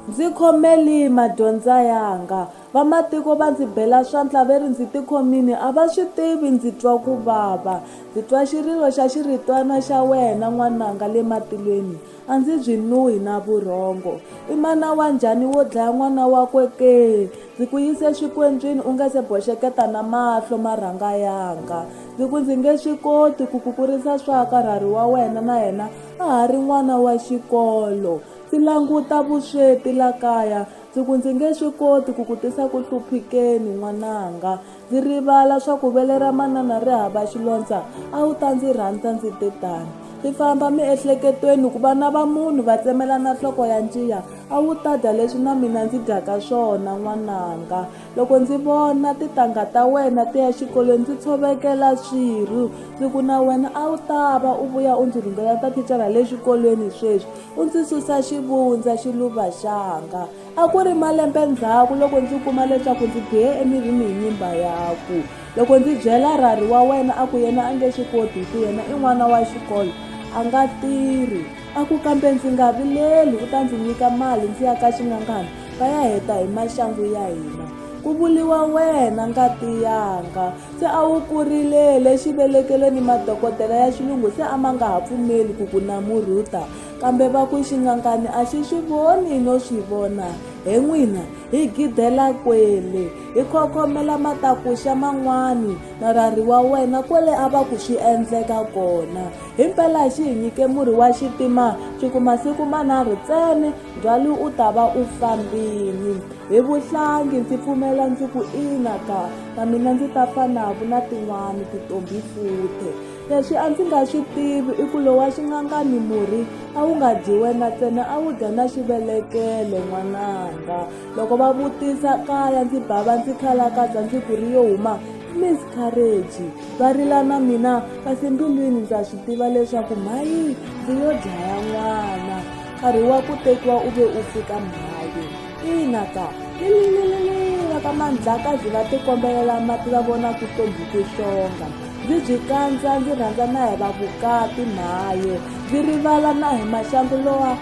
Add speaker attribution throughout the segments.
Speaker 1: Ndzi khomeli madyondza yanga. Vamatiko va ndzi bela swantla ve ri ndzi tikhomini a va swi tivi ndzi twa ku vava. Ndzi twa xirilo xa xiritwana xa wena n'wananga le matilweni a ndzi byi nuhi na vurhongo. I mana wa njhani wo dlaya n'wana wakwe ke? Ndzi ku yise swikwenjwini u nge se boxeketa na mahlo ma rhanga yanga. Ndzi ku ndzi nge swi koti ku ku kurisa swa ka rhari wa wena na yena a ha ri n'wana wa xikolo ndzi languta vusweti la kaya ndzi ku ndzi nge swi koti ku ku tisa ku hluphikeni n'wananga ndzi rivala swa ku vele ra manana ri hava xilondza a wu ta ndzi rhandza ndzi te tani ndzi famba miehleketweni ku vana va munhu va tsemelana nhloko ya njiya a wu ta dya leswi na mina ndzi dyaka swona n'wananga loko ndzi vona titangha ta wena ti ya xikolweni ndzi tshovekela swirhu ndzi ku na wena a wu ta va u vuya u ndzi rhungela ta thicara le xikolweni sweswi u ndzi susa xivundza xiluva xanga a ku ri malembe ndzhaku loko ndzi kuma leswaku ndzi bihe emirini hi nyimba yaku loko ndzi byela rhari wa wena a ku yena a nge swi koti hi ku yena i n'wana wa xikolo a nga tirhi a ku kambe ndzi nga vileli u ta ndzi nyika mali ndzi ya ka xingangana va ya heta hi maxangu ya hina ku vuriwa wena ngati yanga se a wu kurilele xivelekelweni madokodela ya xilungu se a ma nga ha pfumeli ku ku namurhuta kambe va ku xingangani a xi swi voni no swi vona he n'wina hi gidela kwele hi khokhomela matakuxa man'wani na rari wa wena kwele a va ku swi endleka kona himpela xi hi nyike murhi wa xitima swi kuma siku manharhu tsene Ndlwalu u ta va u fambile. Hi vuhlangi ndzi pfumela ndzi ku ina ka, na mina ndzi ta fanavu na tin'wana titombi futhe. Leswi a ndzi nga swi tivi i ku lowa xingangani murhi a wu nga dyi wena ntsena a wu dya na xivelekelo n'wananga. Loko va vutisa kaya ndzi bava ndzi khalakadza ndzi ku ri yo huma miss courage va rila na mina kasi mbilwini ndza swi tiva leswaku mhayi ndzi yo dlaya n'wana nkarhi wa ku tekiwa u ve u fika mhayo ina ka lililililila ka mandlakazi va tikombelela mati va vona ku tombhuke xonga ndzi byi kandza ndzi rhandza na hi va vukati mhayo ndzi rivala na hi maxangu lowa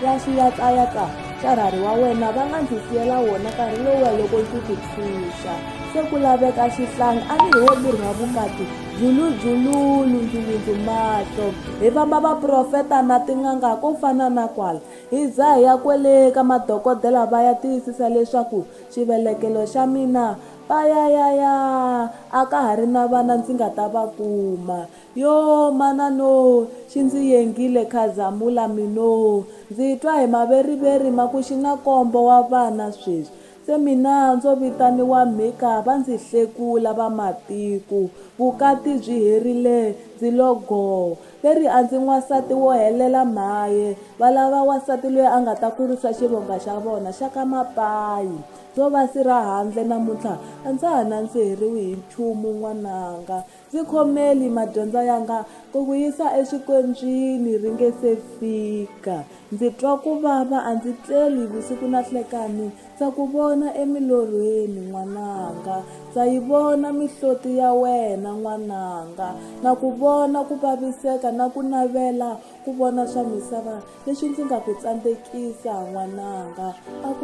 Speaker 1: ya xiyatlayatla xa rhari wa wena va nga ndzi siyela wona nkarhi lowa loko ndzi ku tshunxa se ku laveka xihlangi a ni hi wo miri wa vukati dzuludzululu ndzulundzumatlo hi vamba vaprofeta na tin'anga ko fana na kwala hi za hi ya kwele ka madokodela va ya tiyisisa leswaku xivelekelo xa mina payayaya a ka ha ri na vana ndzi nga ta va kuma yo manano xi ndzi yengile khazamula mino ndzi twa hi maveriveri ma ku xi na kombo wa vana sweswi Se mina ndzo vitaniwa Mika va ndzi hlekula va matiko, vukati byi herile ndzi lo goo. Va ri a ndzi n'wansati wo helela mhaye, va lava wansati loyi a nga ta kurisa xivonga xa vona xa ka Mapayi. Ndzo va si ra handle namuntlha a ndza ha nandziheriwi hi nchumu n'wananga, Ndzi khomeli madyondza yanga ku ku yisa exikondzwini ri nge se fika. Ndzi twa ku vava a ndzi tleli vusiku na hlekani ndza ku vona emilorhweni n'wananga ndza yi vona mihloti ya wena n'wananga na ku vona ku vaviseka na ku navela ku vona swa misava leswi ndzi nga ku tsandzekisa n'wananga a ku